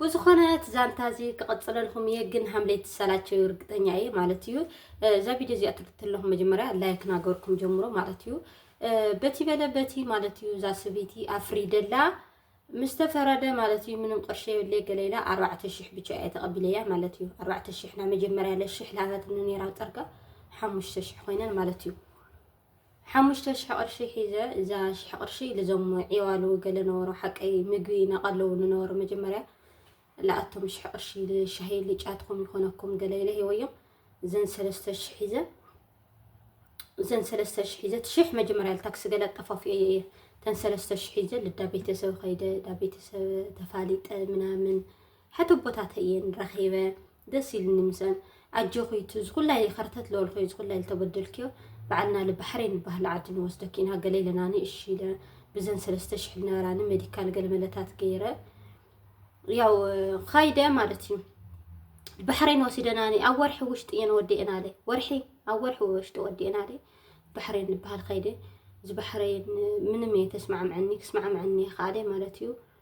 ብዝኾነ እቲ ዛንታ እዚ ክቕፅለልኩም እየ ግን ሃምለይ ትሰላቸው እርግጠኛ እየ ማለት እዩ እዛ ቪድዮ እዚኣ ትርትለኹም መጀመርያ ላይክ ናገርኩም ጀምሮ ማለት እዩ በቲ በለ በቲ ማለት እዩ እዛ ስብይቲ ኣፍሪደላ ምስ ተፈረደ ማለት እዩ ምንም ቅርሺ የብለይ ገለ ኢላ ኣርባዕተ ሽሕ ብቻ እየ ተቐቢለያ ማለት እዩ ኣርባዕተ ሽሕ ናይ መጀመርያ ለሽሕ ላበትኒ ነይራ ፀርጋ ሓሙሽተ ሽሕ ኮይነን ማለት እዩ ሓሙሽተ ሽሕ ቅርሺ ሒዘ እዛ ሽሕ ቅርሺ ልዞም ዒዋሉ ገለ ነበሮ ሓቀይ ምግቢ ናቀለዉ ንነበሮ መጀመርያ ልኣቶም ሽሕ ቅርሺ ልሻሂ ልጫትኩም ይኮነኩም ገለ ኢለ ሂወዮም እዘን ሰለስተ ሽሕ ሒዘ እዘን ሰለስተ ሽሕ ሒዘ ትሽሕ መጀመርያ ልታክሲ ገለ ኣጠፋፍኤ እየ እተን ሰለስተ ሽሕ ሒዘ ልዳ ቤተሰብ ከይደ ዳ ቤተሰብ ተፋሊጠ ምናምን ሓተቦታተ እየን ረኺበ ደስ ኢሉኒ ምስኣን ኣጆኺ እቲ ዝኹላ ኢለ ከርተት ዝበልኩዮ ዝኹላ ኢለ ተበደልክዮ በዓልና ለ ባሕሬን ዝበሃል ዓዲ ንወስደኪ ኢና ገለ ኢለናኒ እሺ ኢለ ብዘን ሰለስተ ሽሕ ልነበራኒ ሜዲካል ገለ መለታት ገይረ ያው ኻይደ ማለት እዩ ባሕሬን ወሲደናኒ ኣብ ወርሒ ውሽጢ እየን ወዲኤና ለ ወርሒ ኣብ ወርሒ ውሽጢ ወዲኤና ለ ባሕሬን ዝበሃል ኸይደ እዚ ባሕሬን ምንም እየ ተስማዕምዐኒ ክስማዕምዐኒ ይኸኣለ ማለት እዩ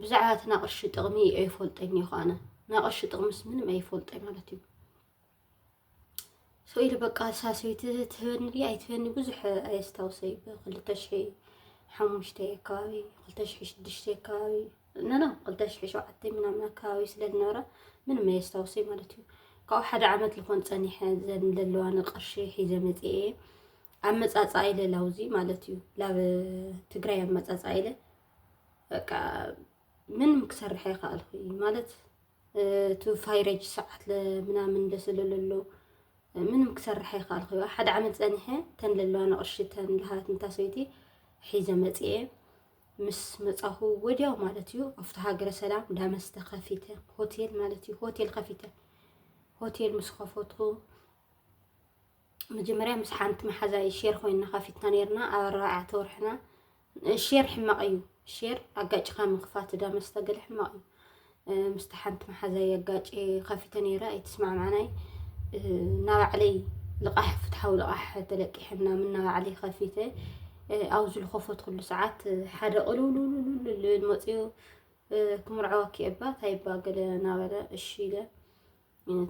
ብዛዕባ እቲ ናቕርሺ ጥቕሚ ኣይፈልጠኝ እየ ኳነ ናቕርሺ ጥቕምስ ምንም ኣይፈልጠኝ ማለት እዩ ሰው ኢሉ በቃ ሳሰይቲ ትህበኒ ድያ ኣይትህበኒ ብዙሕ ኣየስታውሰ እዩ ብክልተ ሽሒ ሓሙሽተ ኣካባቢ ክልተ ሽሒ ሽዱሽተ ኣካባቢ ነና ክልተ ሽሒ ሸውዓተ ምናምን ኣካባቢ ስለ ዝነበረ ምንም ኣየስታውሰ እዩ ማለት እዩ ካብኡ ሓደ ዓመት ዝኾን ፀኒሐ ዘን ዘለዋኒ ቅርሺ ሒዘ መፅኤ ኣመፃፃ ኢለ ላውዚ ማለት እዩ ላብ ትግራይ ኣመፃፃ ኢለ በቃ ምንም ክሰርሕ ኣይከኣልኩ ማለት እቲ ፋይረጅ ሰዓት ምናምን ለስለለሎ ምንም ክሰርሕ ኣይከኣልኩ ሓደ ዓመት ፀኒሐ ተን ለለዋ ንቕርሺ ተን ልሃት ንታሰይቲ ሒዘ መፅኤ ምስ መፃኹ ወዲያው ማለት እዩ ኣብቲ ሃገረ ሰላም ዳመስተ ከፊተ ሆቴል ማለት እዩ ሆቴል ከፊተ ሆቴል ምስ ከፈትኩ መጀመርያ ምስ ሓንቲ መሓዛይ ሼር ኮይና ከፊትና ነርና ኣብ ኣርባዕተ ወርሕና ሼር ሕማቕ እዩ ሼር ኣጋጭኻ ምኽፋት እዳ መስተ ገለ ሕማቕ እዩ ምስቲ ሓንቲ መሓዛይ ኣጋጭ ከፊተ ነይረ ኣይትስማዕማዕናይ ናባዕለይ ልቓሕ ፍትሓዊ ልቓሕ ተለቂሐና ምናባዕለይ ከፊተ ኣብዚ ዝልኸፈት ኩሉ ሰዓት ሓደ ቅልውልውልውልል መፅኡ ክምርዐወኪ እባ ታይባ ገለ ናበለ እሺ ኢለ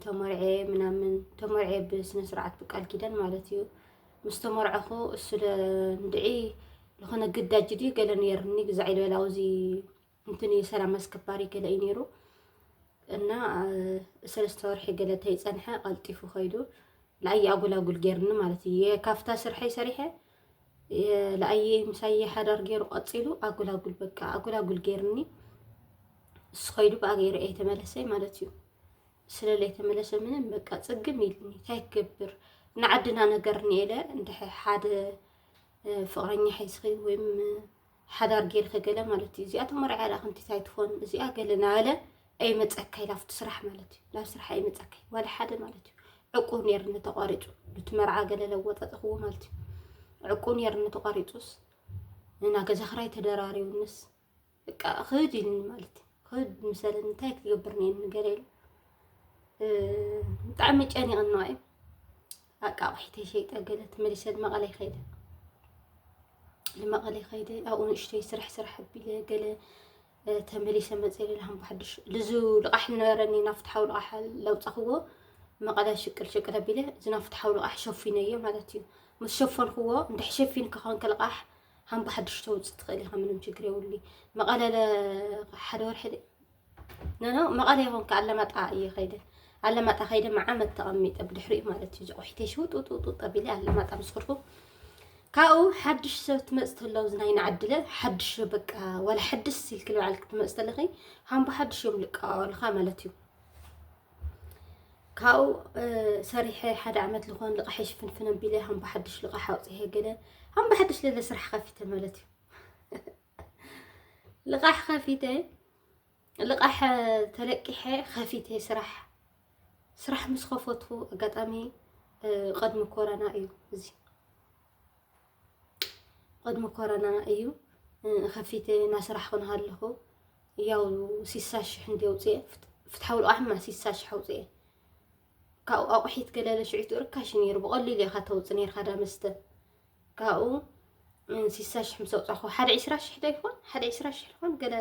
ተመርዔ ምናምን ተመርዔ ብስነ ስርዓት ብቃል ኪዳን ማለት እዩ ምስ ተመርዐኹ እሱ እንድዒ ዝኾነ ግዳጅ ድዩ ገለ ነይሩኒ ግዛዕ ይበል ኣብዚ እንትን ሰላም ኣስከባሪ ገለ እዩ ነይሩ እና ሰለስተ ወርሒ ገለ ተይፀንሐ ቀልጢፉ ከይዱ ንኣየ ኣጉላጉል ገይርኒ ማለት እዩ ካብታ ስርሐይ ሰሪሐ ለኣየ ምሳየ ሓዳር ገይሩ ቀፂሉ ኣጉላጉል በቃ ኣጉላጉል ገይርኒ እሱ ከይዱ ብኣ ገይረ እየ ተመለሰይ ማለት እዩ ስለለይ ተመለሰ ምንም በቃ ፅግም ኢልኒ እንታይ ክገብር ንዓድና ነገር ንኤለ እንድሕ ሓደ ፍቅረኛ ሒዝኺ ወይም ሓዳር ጌርኸ ገለ ማለት እዩ እዚኣ ተመርዕያ ዳኣ ከምቲ እንታይ ትኾን እዚኣ ገለ ናበለ ኣይመፀካ ኢላ ኣብቲ ስራሕ ማለት እዩ ናብ ስራሕ ኣይመፀካ ዋላ ሓደ ማለት እዩ ዕቁብ ነይርኒ ተቋሪፁ ኑቲ መርዓ ገለ ለወጣጥኽዎ ማለት እዩ ዕቁብ ነይርኒ ተቋሪፁስ እና ገዛ ክራይ ተደራሪቡንስ በቃ ክህድ ኢልኒ ማለት እዩ ክህድ ምሰለኒ እንታይ ክገብር ነይኒ ገለ ኢሉ ብጣዕሚ ጨኒቕና እዩ በቃ ኣቑሒተይ ሸይጠ ገለ ተመሊሰ ንመቐለ ይኸይደ ንመቐለ ይኸይደ ኣብኡ ንእሽተይ ስራሕ ስራሕ ኣቢለ ገለ ተመሊሰ መፀ ልልሃም ብሓድሽ ልዙ ልቓሕ ዝነበረኒ ናብ ፍትሓዊ ልቓሕ ለውፃኽዎ መቐለ ሽቅል ሽቅል ኣቢለ እዚ ናብ ፍትሓዊ ልቓሕ ሸፊነዮ ማለት እዩ ምስ ሸፈንክዎ እንድሕ ሸፊን ክኾን ከልቓሕ ሃም ብሓድሽ ተውፅእ ትኽእል ኢኻ ምንም ችግር የብሉ መቐለ ሓደ ወርሒ ነኖ መቐለ ይኹን ከ ኣለማጣ እየ ከይደ ኣለማጣ ከይደ መዓመት ተቐሚጠ ብድሕሪኡ ማለት እዩ ዝቑሒተ ሽውጡጡጡ ጠቢለ ኣለማጣ ምስ ከድኩ ካብኡ ሓድሽ ሰብ ትመፅ ተሎ ናይ ንዓድለ ሓድሽ በቃ ዋላ ሓድስ ኢልክል በዓል ክትመፅ ተለኺ ሃምቦ ሓድሽ እዮም ልቀዋወልኻ ማለት እዩ ካብኡ ሰሪሐ ሓደ ዓመት ዝኾን ልቓሒ ሽፍንፍን ኣቢለ ሃምቦ ሓድሽ ልቓሒ ኣውፅሀ ገለ ሃምቦ ሓድሽ ለለ ስራሕ ከፊተ ማለት እዩ ልቓሕ ከፊተ ልቓሕ ተለቂሐ ከፊተ ስራሕ ስራሕ ምስ ከፈትኩ ኣጋጣሚ ቅድሚ ኮረና እዩ እዚ ቅድሚ ኮረና እዩ ከፊተ እና ስራሕ ክንሃለኹ ያው ሲሳ ሽሕ እንዲ ኣውፅኤ ፍትሓዊ ልቓሕማ ሲሳ ሽሕ ኣውፅኤ ካብኡ ኣቑሒት ገለለ ሽዒቱ ርካሽ ነይሩ ብቐሊሉ ኢኻ ተውፅእ ነይርካ ዳ መስተ ካብኡ ስሳ ሽሕ ምስ ኣውፃኹ ሓደ ዒስራ ሽሕ ዶ ይኾን ሓደ ዒስራ ሽሕ ይኾን ገለ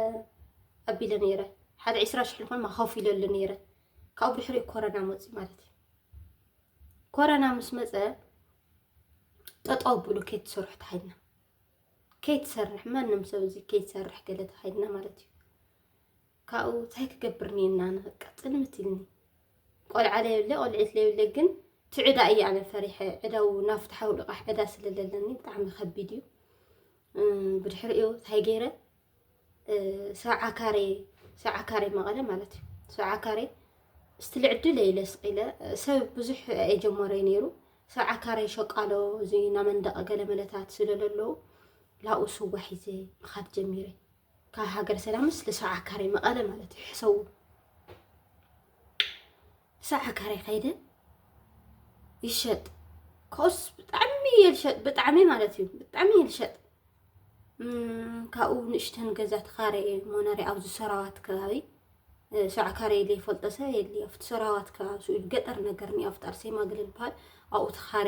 ኣቢለ ነይረ ሓደ ዒስራ ሽሕ ይኾን ማኸፍ ኢለሉ ነይረ ካብኡ ብድሕሪኡ ኮረና መፂ ማለት እዩ ኮረና ምስ መፀ ጠጠው ብሉ ከይትሰርሑ ተሃይና ከይትሰርሕ ማንም ሰብ እዚ ከይትሰርሕ ገለ ተሃይና ማለት እዩ ካብኡ እንታይ ክገብር ኒና ኣነ በቃ ጥልምት ኢልኒ ቆልዓ ለየብለ ቆልዒት ለየብለ ግን እቲ ዕዳ እዩ ኣነ ፈሪሐ ዕዳው ናብ ፍትሓዊ ልቓሕ ዕዳ ስለ ዘለኒ ብጣዕሚ ከቢድ እዩ ብድሕሪኡ እንታይ ገይረ ሰብዓ ካሬ ሰብዓ ካሬ መቐለ ማለት እዩ ሰብዓ ካሬ እስቲ ልዕድለ ኢለ ስቂለ ሰብ ብዙሕ የጀመረዩ ነይሩ ሰብዓ ካሬ ሸቃሎ እዚ ናመንደቐ ገለ መለታት ስለለለዉ ላብኡ ስዋ ሒዘ ምኻድ ጀሚረ ካብ ሃገር ሰላምስ ልሰብዓ ካሬ መቐለ ማለት እዩ ሕሰቡ ሰብዓ ካሬ ከይደ ይሸጥ ኮስ ብጣዕሚ እየ ልሸጥ ብጣዕሚ ማለት እዩ ብጣዕሚ እየ ልሸጥ ካብኡ ንእሽተን ገዛ ተኻረ እየ ሞነሪያ ኣብዚ ሰራዋት ከባቢ ሰብዓ ካሬ ኢለ ይፈልጦ ሰብ የድልዮ ኣብቲ ሰራዋት ከባቢ ስኡ ገጠር ነገር ኒ ኣብቲ ኣርሴማ ግልል በሃል ኣብኡ ተኻረ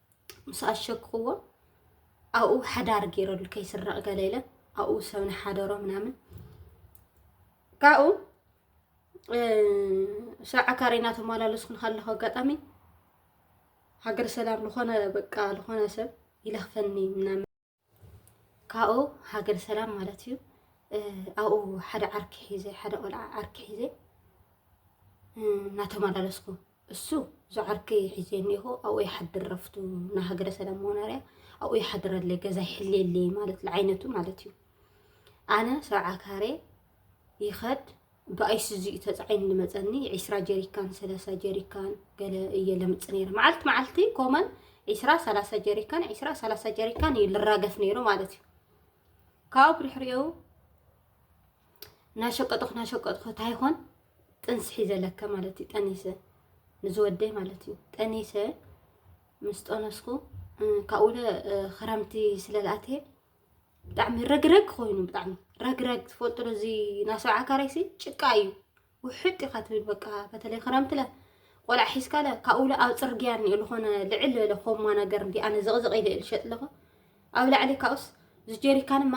ምስ ኣሸክኽዎ ኣብኡ ሓዳር ገይረሉ ከይስረቕ ገለ ኢለ ኣብኡ ሰብ ንሓደሮ ምናምን ካብኡ ሰብዓ ካሬ እናተመላለስኩ ንካለኹ ኣጋጣሚ ሃገር ሰላም ዝኾነ በቃ ዝኾነ ሰብ ይለኽፈኒ ምናምን ካብኡ ሃገር ሰላም ማለት እዩ ኣብኡ ሓደ ዓርኪ ሒዘ ሓደ ቆልዓ ዓርኪ ሒዘ እናተመላለስኩ እሱ እዞ ዓርኪ ሒዘ እኒኹ ኣብኡ ይሓድር ረፍቱ ንሃገረ ሰላም መኖርያ ኣብኡ ይሓድረለይ ገዛ ይሕልየለይ ማለት ለዓይነቱ ማለት እዩ ኣነ ሰብዓ ካሬ ይኸድ ብኣይሱዙ እዩ ተፃዒኑ ልመፀኒ ዒስራ ጀሪካን ሰላሳ ጀሪካን ገለ እየ ለምፅ ነይረ መዓልቲ መዓልቲ ኮመን ዒስራ ሰላሳ ጀሪካን ዒስራ ሰላሳ ጀሪካን እዩ ልራገፍ ነይሩ ማለት እዩ ካብኡ ብድሕሪኡ ናሸቀጥኹ ናሸቀጥኹ ታይኾን ጥንሲ ሒዘለከ ማለት እዩ ጠኒሰ ንዝወደይ ማለት እዩ ጠኒሰ ምስ ጠነስኩ ካብኡለ ክረምቲ ስለልኣተ ብጣዕሚ ረግረግ ኮይኑ ብጣዕሚ ረግረግ ትፈልጡ ዶ እዚ ናይ ሰብዓ ካሬሲ ጭቃ እዩ ውሕጥ ኢኻ ትብል በቃ በተለይ ክረምቲ ለ ቆልዓ ሒዝካ ለ ካብኡ ለ ኣብ ፅርግያ እኒኦ ዝኾነ ልዕል ዝበለ ኮማ ነገር እንዲ ኣነ ዘቕዘቕ ኢለ እየ ዝሸጥ ኣለኹ ኣብ ላዕሊ ካብኡስ እዚ ጀሪካን እማ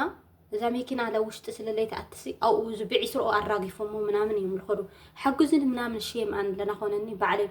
እዛ መኪና ለ ውሽጢ ስለለይ ተኣትሲ ኣብኡ እዚ ብዒስርኦ ኣራጊፎሞ ምናምን እዮም ዝኸዱ ሓግዙኒ ምናምን ሽየም ኣን ለናኾነኒ ባዕለይ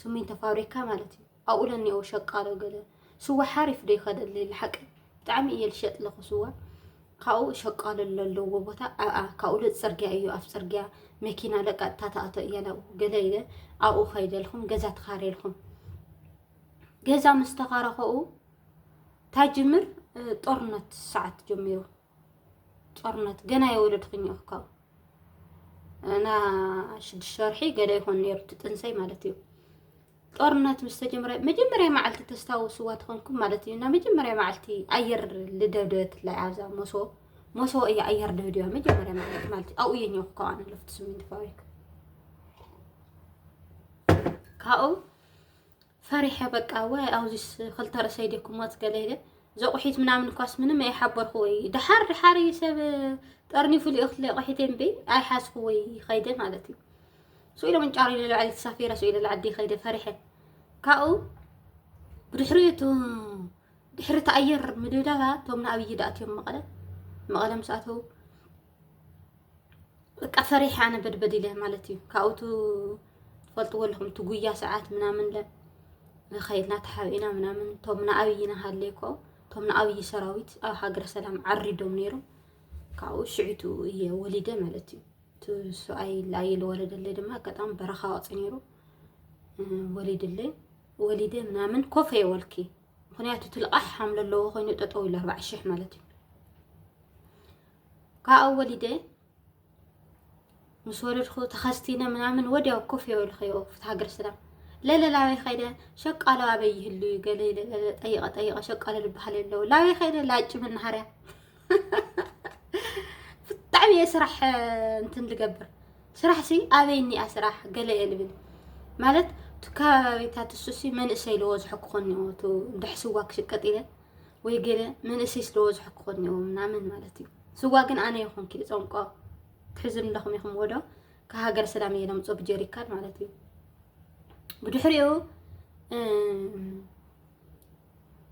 ስሚንቶ ፋብሪካ ማለት እዩ ኣብኡ ለኒኦ ሸቃሎ ገለ ስዋ ሓሪፍ ዶ ይኸደለይ ልሓቂ ብጣዕሚ እየ ልሸጥ ለኹ ስዋ ካብኡ ሸቃሎ ለለዎ ቦታ ኣብኣ ካብኡ ለ ፅርግያ እዩ ኣብ ፅርግያ መኪና ለቀጥታ ተኣቶ እያ ናብኡ ገለ ኢለ ኣብኡ ከይደልኹም ገዛ ተኻሬልኹም ገዛ ምስ ተኻረኸኡ ታጅምር ጦርነት ሰዓት ጀሚሩ ጦርነት ገና የወለድክኝ እኮ እና ሽዱሽተ ወርሒ ገለ ይኾን ነይሩ እቲ ጥንሰይ ማለት እዩ። ጦርነት ምስ ተጀመረ መጀመርያ መዓልቲ ተስታውስዋ ትኾንኩም ማለት እዩ እና መጀመርያ መዓልቲ ኣየር ልደብደበት ላይ ኣብዛ ሞሶ ሞሶ እያ ኣየር ደብድባ መጀመርያ መዓልቲ ማለት ኣብኡ እየ ኘኹ ከዋን ለፍቲ ስሚንት ፋብሪካ ካብኡ ፈሪሐ በቃ ዋይ ኣውዚስ ክልተ ርእሰይ ድየ ክሞት ገለ ኢለ ዘቑሒት ምናምን እኳስ ምንም ኣይሓበርኩዎ እዩ ድሓር ድሓር እዩ ሰብ ጠርኒፉ ልእኽትለ ቑሒተይ እምበይ ኣይሓዝኩዎ እዩ ኸይደ ማለት እዩ ስኡ ኢሎም እንጫሩ ኢለ ልዕሊ ተሳፊረ ስኡ ኢለ ልዓዲ ኸይደ ፈሪሐ ካብኡ ብድሕሪኡ እቲ ድሕሪ እቲ ኣየር ምድብዳባ እቶም ንኣብዪ ድኣትዮም መቐለ መቐለ ምስ ኣተው በቃ ፈሪሐ ኣነ በድበድ ኢለ ማለት እዩ ካብኡ ትፈልጥዎ ኣለኹም እቲ ጉያ ሰዓት ምናምን ለ ከይድና ተሓቢእና ምናምን እቶም ንኣብይ ንሃለይ እኮ እቶም ንኣብይ ሰራዊት ኣብ ሃገረ ሰላም ዓሪዶም ነይሮም ካብኡ ሽዒቱ እየ ወሊደ ማለት እዩ እቲ ሰብኣይ ላየ ዝወለደለይ ድማ ኣጋጣሚ በረኻ ወፅ ነይሩ ወሊድለይ ወሊደ ምናምን ኮፍ እየ ወልኪ ምክንያቱ እቲ ልቓሕ ሓምለ ኣለዎ ኮይኑ ጠጠው ኢሉ ኣርባዕ ሽሕ ማለት እዩ ካብኡ ወሊደ ምስ ወለድኩ ተኸስቲነ ምናምን ወዲያው ኮፍ የበልክዮ ፍትሒ ሃገር ሰላም ለለ ላበይ ከይደ ሸቃሎ ኣበይ ይህሉ እዩ ገለ ኢለ ለለ ጠይቐ ጠይቐ ሸቃሎ ዝበሃል የለው ላበይ ከይደ ላጭ መናሃርያ ብጣዕሚ እየ ስራሕ እንትን ልገብር ስራሕ ሲ ኣበይ እኒኣ ስራሕ ገለ እየ ልብል ማለት እቲ ከባቢታት እሱሲ መንእሰይ ዝበዝሖ ክኾን እዩ እቲ ድሕስዋ ክሽቀጥ ኢለ ወይ ገለ መንእሰይ ስለወዝሑ ክኾን እኒኦ ምናምን ማለት እዩ ስዋ ግን ኣነ ይኹን ክል ጸንቆ ትሕዙ ኣለኹም ኢኹም ወዶ ካብ ሃገር ሰላም እየ ለምፆ ብጀሪካን ማለት እዩ ብድሕሪኡ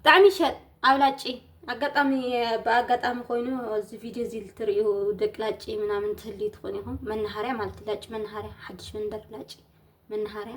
ብጣዕሚ ሸጥ ኣብላጪ ኣጋጣሚ ብኣጋጣሚ ኮይኑ እዚ ቪድዮ እዚ ልትርእዩ ደቂ ላጪ ምናምን ትህልዩ ትኾኑ ኢኹም መናሃርያ ማለት ላጪ መናሃርያ ሓድሽ መንደር ላጪ መናሃርያ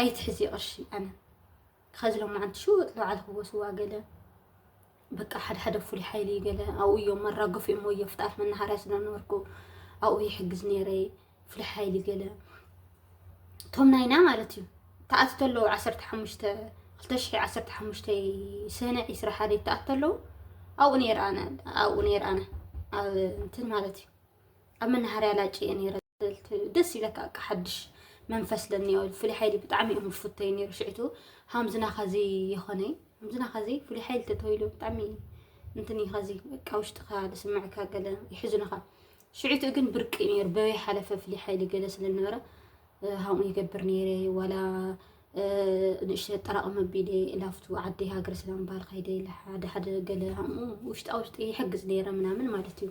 ኣይትሕዚ ቅርሺ ኣነ ከዚ ሎማዓንቲ ሽውጥ በዓል ክወስዋ ገለ በቃ ሓደ ሓደ ፍሉይ ሓይሊ ገለ ኣብኡ እዮም መራገፉ እዮም ወዮ ፍጣፍ መናሃርያ ስለነበርኩ ኣብኡ ይሕግዝ ነይረ ፍሉይ ሓይሊ ገለ እቶም ናይና ማለት እዩ ተኣቲ ተለዉ ዓሰርተ ሓሙሽተ ክልተ ሽሕ ዓሰርተ ሓሙሽተ ስነ ዒስራ ሓደ ተኣቲ ተለዉ ኣብኡ ነይረ ኣነ ኣብኡ ነይረ ኣነ ኣብ እንትን ማለት እዩ ኣብ መናሃርያ ላጭየ ነይረ ደስ ይብለካ በቃ ሓድሽ መንፈስ ለኒዮ ፍሉይ ሓይሊ ብጣዕሚ እዮም ዝፍተዩ ነይሩ ሽዕቱ ሃምዚ ናኸዚ የኾነ ሃምዚ ናኸዚ ፍሉይ ሓይሊ ተተባሂሉ ብጣዕሚ እንትን እዩ ከዚ በቃ ውሽጥኻ ዝስምዕካ ገለ ይሕዝንኻ ሽዕቱ ግን ብርቂ እዩ ነይሩ በበይ ሓለፈ ፍሉይ ሓይሊ ገለ ስለነበረ ሃምኡ ይገብር ነይረ ዋላ ንእሽተ ጠራቕመ ቢለ ላፍቱ ዓዲ ሃገር ሰላም ባል ከይደ ሓደ ሓደ ገለ ሃምኡ ውሽጣ ውሽጢ ይሕግዝ ነይረ ምናምን ማለት እዩ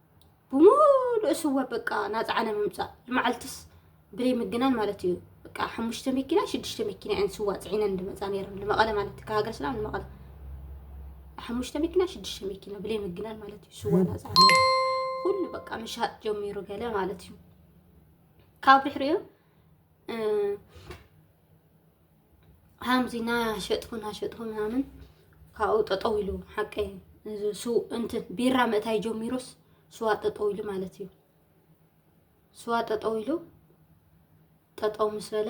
ብምሉእ ስወር በቃ ናፃዕነ ምምፃእ ንመዓልትስ ብደይ ምግናን ማለት እዩ በቃ ሓሙሽተ መኪና ሽዱሽተ መኪና እየን ስዋ ፅዒነን ዝመፃ ነይረን ንመቐለ ማለት እዩ ካብ ሃገረ ሰላም ንመቐለ ሓሙሽተ መኪና ሽዱሽተ መኪና ብደይ ምግናን ማለት እዩ ስዋ ናፃዕነ ኩሉ በቃ ምሻጥ ጀሚሩ ገለ ማለት እዩ ካብ ድሕሪኡ ሓምዚ ናሸጥኩ ናሸጥኩ ምናምን ካብኡ ጠጠው ኢሉ ሓቀይ እንትን ቢራ ምእታይ ጀሚሩስ ስዋ ጠጠው ኢሉ ማለት እዩ። ስዋ ጠጠው ኢሉ ጠጠው ምስ በለ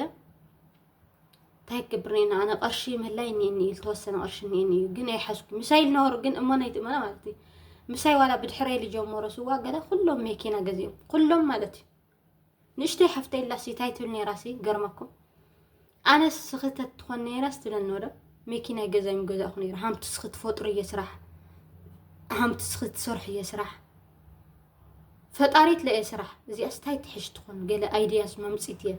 እንታይ ክገብር ነና ኣነ ቅርሺ መላይ እኒኤኒ እዩ ዝተወሰነ ቅርሺ እኒኤኒ እዩ ግን ኣይሓዝኩ ምሳይ ልነበሩ ግን እሞ ናይ ትእመና ማለት እዩ ምሳይ ዋላ ብድሕረይ ልጀመሮ ስዋ ገለ ኩሎም መኪና ገዚኦም ኩሎም ማለት እዩ ንእሽተይ ሓፍተይ ኣላሲ እንታይ ትብል ነይራሲ ይገርመኩም ኣነስ ስኽተት ትኾን ነይራስ ትብለኒ ወዶ ሚኪ ናይ ገዛይ ምገዛእኹ ነይሩ ሃምቲ ስኺ ትፈጥሩ እየ ስራሕ ሃምቲ ስኺ ትሰርሑ እየ ስራሕ ፈጣሪት ለየ ስራሕ እዚኣ ስታይ ትሕሽ ትኾን ገለ ኣይድያስ መምፂት እየ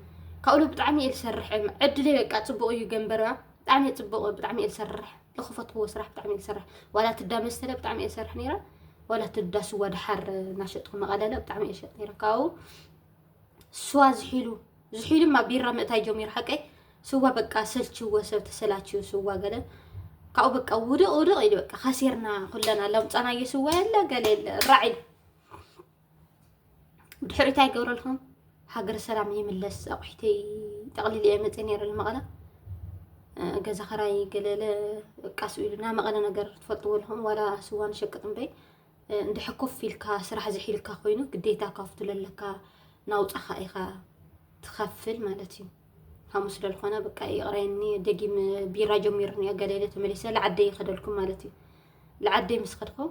ካብኡ ብጣዕሚ እየ ዝሰርሕ ዕድለይ በቃ ፅቡቅ እዩ ገንበርባ ብጣዕሚ ፅቡቅ ብጣዕሚ እየ ዝሰርሕ ዝኸፈትክዎ ስራሕ ብጣዕሚ እየ ዝሰርሕ ዋላ እቲ እንዳ መስተለ ብጣዕሚ እየ ዝሰርሕ ነይረ ዋላ እቲ እንዳ ስዋ ድሓር እናሸጥኩ መቐለለ ብጣዕሚ እየ ዝሸጥ ነይረ ካብኡ ስዋ ዝሒሉ ዝሒሉ እማ ቢራ ምእታይ ጀሚሩ ሓቀይ ስዋ በቃ ሰልችዎ ሰብ ተሰላችዩ ስዋ ገለ ካብኡ በቃ ውድቕ ውድቕ ኢሉ በቃ ከሲርና ኩለና ለምፃናዮ ስዋ የለ ገለ የለ ራዕ ኢሉ ድሕሪት ኣይገብረልኩም ሃገር ሰላም ይምለስ ኣቑሒተይ ጠቕሊል እየ መፅእ ነይረ መቐለ ገዛ ኸራይ ገለለ ቃስ ኢሉና መቐለ ነገር ትፈልጥዎ ኣለኹም ዋላ ስዋ ንሸቅጥ እምበይ እንድሕር ኮፍ ኢልካ ስራሕ ዝሒልካ ኮይኑ ግዴታ ካብቱ ለለካ ናውፃኻ ኢኻ ትኸፍል ማለት እዩ ከምኡ ስለዝኾነ በቃ ይቕረየኒ ደጊም ቢራ ጀሚሩኒ ገለለ ተመሊሰ ልዓደይ ይኸደልኩም ማለት እዩ ልዓደይ ምስ ኸድኩም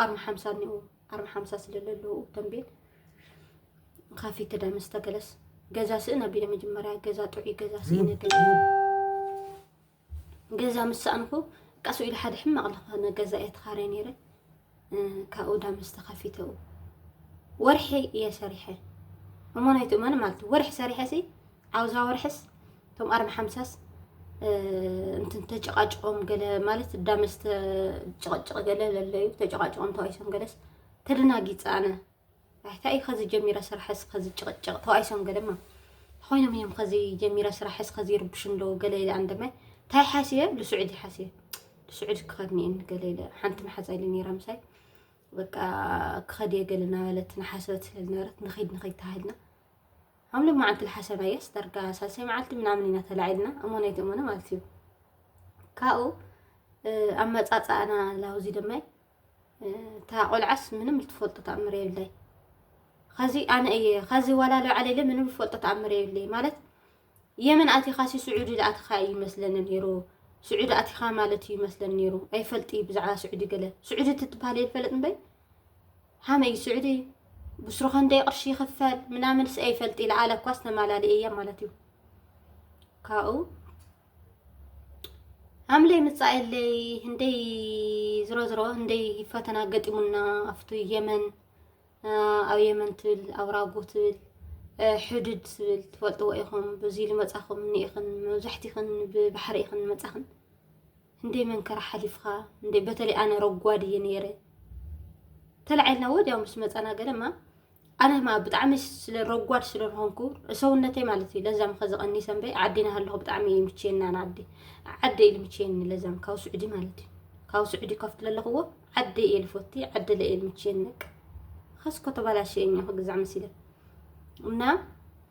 ኣርማ ሓምሳ እኒኦ ኣርማ ሓምሳ ስለለለዉ ተንቤን ካፊ ክዳ መስተገለስ ገዛ ስእን ኣቢለ መጀመርያ ገዛ ጥዑይ ገዛ ስእነ ገዛ ምስ ሰኣንኩ ቃሱ ኢሉ ሓደ ሕማቕ ዝኾነ ገዛ እየ ተኻረ ነይረ ካብኡ ዳ ምስ ተኸፊተኡ ወርሒ እየ ሰሪሐ እሞ ናይቲ እመን ማለት ወርሒ ሰሪሐ ሲ ኣብዛ ወርሕስ እቶም ኣርባ ሓምሳስ እንትን ተጨቃጭቆም ገለ ማለት ዳመስ ጭቕጭቕ ገለ ለለዩ ተጨቃጭቆም ተዋይሶም ገለስ ተደናጊፀ ኣነ እንታይ እዩ ከዚ ጀሚረ ስራሕስ ከዚ ጭቕጭቕ ተዋይሶም ገለማ ኮይኖም እዮም ከዚ ጀሚረ ስራሕስ ከዚ ይርብሹ ኣለዉ ገለ ኢለ ኣንደመ እንታይ ሓስየ ልስዑድ ሓስየ ልስዑድ ክኸድ ኒአን ገለ ኢለ ሓንቲ መሓዛ ኢለ ነይራ ምሳይ በቃ ክኸድ እየ ገለ ናበለት ንሓሰበት ስለዝነበረት ንኸይድ ንኸይድ ተባሂልና ሓምለ መዓልቲ ልሓሰባየስ ዳርጋ ሳልሳይ መዓልቲ ምናምን ኢና ተላዒልና እሞን ኣይትእሞነ ማለት እዩ ካብኡ ኣመፃፃእና ላውዚ ደማይ እታ ቆልዓስ ምንም ልትፈልጦ ተኣምር የብለይ ከዚ ኣነ እየ ከዚ ዋላ ለባዕለለ ምንም ልፈልጦ ተኣምር የብለይ ማለት የመን ኣቲኻሲ ስዑዲ ኣቲኻ እዩ ይመስለኒ ነይሩ ስዑዲ ኣቲኻ ማለት እዩ ይመስለኒ ነይሩ ኣይፈልጥ እዩ ብዛዕባ ስዑዲ ገለ ስዑዲ ትትበሃል እየ ልፈለጥ እምበይ ሃመይ ስዑዲ ብስሩ ከንደይ ቅርሺ ይኽፈል ምናምን ስኤ ይፈልጥ ኢለ ኣለ እኳስ ተማላሊ እያ ማለት እዩ ካብኡ ኣምለይ ምጻኤለይ ህንደይ ዝሮ ዝሮ ህንደይ ፈተና ገጢሙና ኣብቲ የመን ኣብ የመን ትብል ኣብ ራጎ ትብል ሕዱድ ትብል ትፈልጥዎ ኢኹም ብዙ ልመጻኹም ንኢኽን መብዛሕትኽን ብባሕሪ ኢኽን መጻኽን እንዴ መንከራ ሓሊፍኻ እንዴ በተለይ ኣነ ረጓድ እየ ነይረ ተላዒልና ወዲያው ምስ መፀና ገደማ ኣነ ማ ብጣዕሚ ስለ ረጓድ ስለዝኾንኩ ሰውነተይ ማለት እዩ ለዛም ከዚ ቀኒ ሰንበይ ዓዲና ሃለኹ ብጣዕሚ እዩ ምችየና ንዓዲ ዓደ ኢሉ ምችየኒ ለዛም ካብ ስዑዲ ማለት እዩ ካብ ስዑዲ ከፍት ለለኽዎ ዓደ እየ ልፎቲ ዓደ ለእየ ምችየኒ ነቅ ኸስኮ ተባላሸ እኛ ክግዛዕ መሲለ እና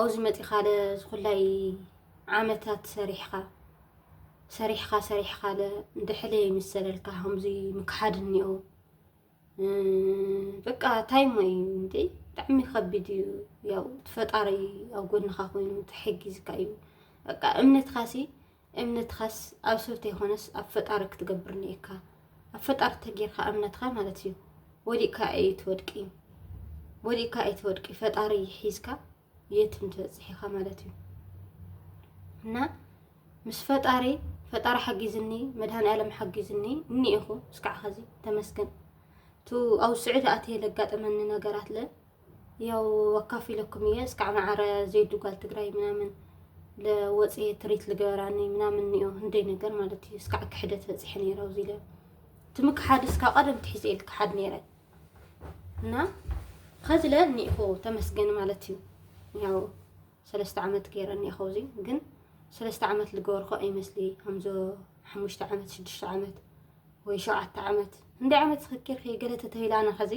ኣብዙ መፂኻለ ዝኹላይ ዓመታት ሰሪሕኻ ሰሪሕኻ ሰሪሕኻለ ድሕለ ይምሰለልካ ከምዙይ ምክሓድ እኒኦ በቃ ታይሞ እዩ እንዴ ብጣዕሚ ከቢድ እዩ ያው ትፈጣሪ ኣብ ጎንኻ ኮይኑ ተሐጊዝካ እዩ በቃ እምነትካሲ እምነትኻስ ኣብ ሰብ ተይኮነስ ኣብ ፈጣሪ ክትገብር ኒኤካ ኣብ ፈጣሪ ተጌርካ እምነትካ ማለት እዩ ወዲቅካ ኣይትወድቂ ወዲቅካ ኣይትወድቂ ፈጣሪ ሒዝካ የትም ትበፅሕ ኢኻ ማለት እዩ እና ምስ ፈጣሪ ፈጣሪ ሓጊዝኒ መድሃኒኣለም ሓጊዝኒ እኒኢኹ እስካዕ ኸዚ ተመስገን እቲ ኣብ ስዑዲ ኣትየ ለጋጠመኒ ነገራት ለ ያው ኣካፊለኩም እየ እስካዕ ማዕረ ዜዱ ጓል ትግራይ ምናምን ለወፅ ትሪት ልገበራኒ ምናምን እዮ እንደይ ነገር ማለት እዩ እስካዕ ክሕደት በፂሐ ነይረ ኣብዚ ለ ትም ክሓድ እስካ ቀደም ትሒዘ ኢል ክሓድ ነይረ እና ከዚ ለ እኒኢኹ ተመስገን ማለት እዩ ያው ሰለስተ ዓመት ገይረ እኒኢኹ እዚ ግን ሰለስተ ዓመት ልገበርኩ ኣይመስሊ ከምዞ ሓሙሽተ ዓመት ሽዱሽተ ዓመት ወይ ሸውዓተ ዓመት እንደ ዓመት ዝክኪር ከይገለተ ተይላና ከዚ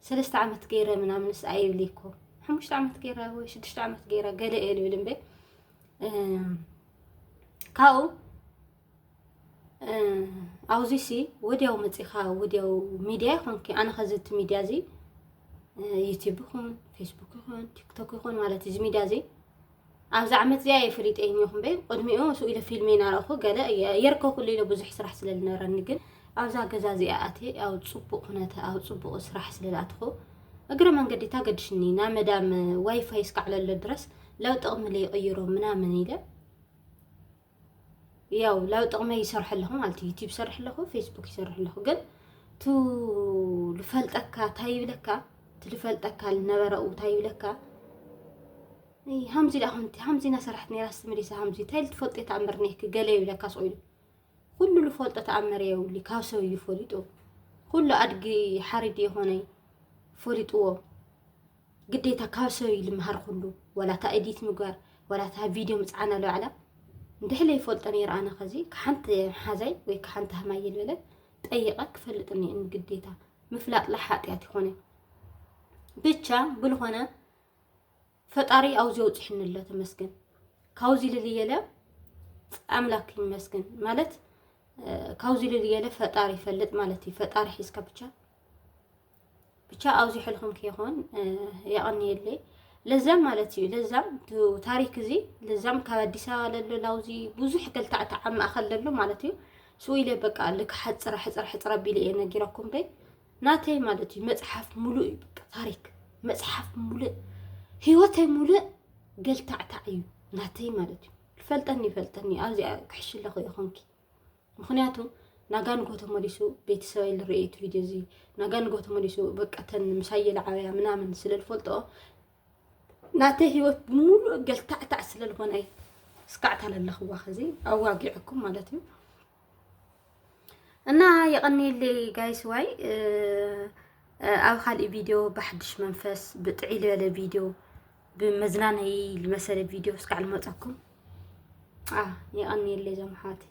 ሰለስተ ዓመት ገይረ ምናምንስ ኣይብል እኮ ሓሙሽተ ዓመት ገይረ ወይ ሽዱሽተ ዓመት ገይረ ገለ እየ ልብል እምበይ ካብኡ ኣብዚ ሲ ወዲያው መፂኻ ወዲያው ሚድያ ይኹንኪ ኣነ ከዚ እቲ ሚድያ እዚ ዩቲብ ይኹን ፌስቡክ ይኹን ቲክቶክ ይኹን ማለት እዚ ሚድያ እዚ ኣብዛ ዓመት እዚኣ እየ ፈሊጠ እኒኹም በይ ቅድሚኡ ስኡ ኢለ ፊልም ይናረኹ ገለ የርከ ኩሉ ኢለ ብዙሕ ስራሕ ስለ ዝነበረኒ ግን ኣብዛ ገዛ እዚኣ ኣትየ ኣብ ፅቡቕ ኩነተ ኣብ ፅቡቕ ስራሕ ስለ ዝኣትኹ እግረ መንገዲ ታገድሽኒ ናብ መዳም ዋይፋይ እስካዕለሎ ድረስ ለው ጥቕሚ ለይቕይሮ ምናምን ኢለ ያው ላብ ጥቕመይ ይሰርሐ ኣለኹ ማለት እዩ ዩቲብ ይሰርሐ ኣለኹ ፌስቡክ ይሰርሐ ኣለኹ ግን ቱ ልፈልጠካ እንታይ ይብለካ እቲ ልፈልጠካ ልነበረኡ እንታይ ይብለካ ሃምዚ ዳኣ ኮንቲ ሃምዚ ኢና ሰራሕት ነራ ስትመሊሳ ሃምዚ እንታይ ልትፈልጦ ተኣምር ነይኪ ገለ ይብለካ ስቑ ኢሉ ኩሉ ልፈልጦ ተኣምር የብሉ ካብ ሰብ እዩ ፈሊጡ ኩሉ ኣድጊ ሓሪዲ የኾነይ ፈሊጥዎ ግዴታ ካብ ሰብ እዩ ልምሃር ኩሉ ዋላ እታ ኤዲት ምግባር ዋላ እታ ቪድዮ ምፅዓን ኣሎ ባዕላ እንድሕለ ይፈልጦ ነይረ ኣነ ከዚ ከሓንቲ ሓዛይ ወይ ከሓንቲ ሃማይ ልበለ ጠይቐ ክፈልጥ እኒአኒ ግዴታ ምፍላጥ ላይ ሓጢኣት ይኾነ ብቻ ብልኾነ ፈጣሪ ኣብዚ ኣውፅሕኒ ኣሎ ተመስገን ካብዚ ልልየለ ኣምላክ ይመስገን ማለት ካብዚ ልልየለ ፈጣሪ ይፈልጥ ማለት እዩ ፈጣሪ ሒዝካ ብቻ ብቻ ኣውዚሕልኹም ከይኾን የቐንየለይ ለዛም ማለት እዩ ለዛም ታሪክ እዚ ለዛም ካብ ኣዲስ ኣበባ ለሎ ላውዚ ብዙሕ ገልታዕቲ ኣብ ማእኸል ለሎ ማለት እዩ ስኢለ በቃ ልክ ሓፅረ ሕፅረ ሕፅረ ቢለ እየ ነጊረኩም በይ ናተይ ማለት እዩ መፅሓፍ ሙሉእ እዩ በቃ ታሪክ መፅሓፍ ሙሉእ ህይወተይ ሙሉእ ገልታዕታዕ እዩ ናተይ ማለት እዩ ፈልጠኒ ይፈልጠኒ ኣብዚ ክሕሽለኹ ይኹንኪ ምክንያቱ ናጋ ንጎ ተመሊሱ ቤተሰበይ ልርኤ እቲ ቪድዮ እዚ ናጋ ንጎ ተመሊሱ በቃተን ምሳይ የለዓበያ ምናምን ስለ ዝፈልጦ ናተ ህይወት ብምሉእ ገልታዕታዕ ስለ ዝኾነ እዩ ስካዕታ ለለኽዋ ከዚ ኣዋጊዐኩም ማለት እዩ እና የቐኒየለይ ጋይስ ዋይ ኣብ ካልእ ቪድዮ ብሓድሽ መንፈስ ብጥዒ ዝበለ ቪድዮ ብመዝናነይ ዝመሰለ ቪድዮ እስካዕ ልመፀኩም የቐንየለይ እዞም ኣሕዋተይ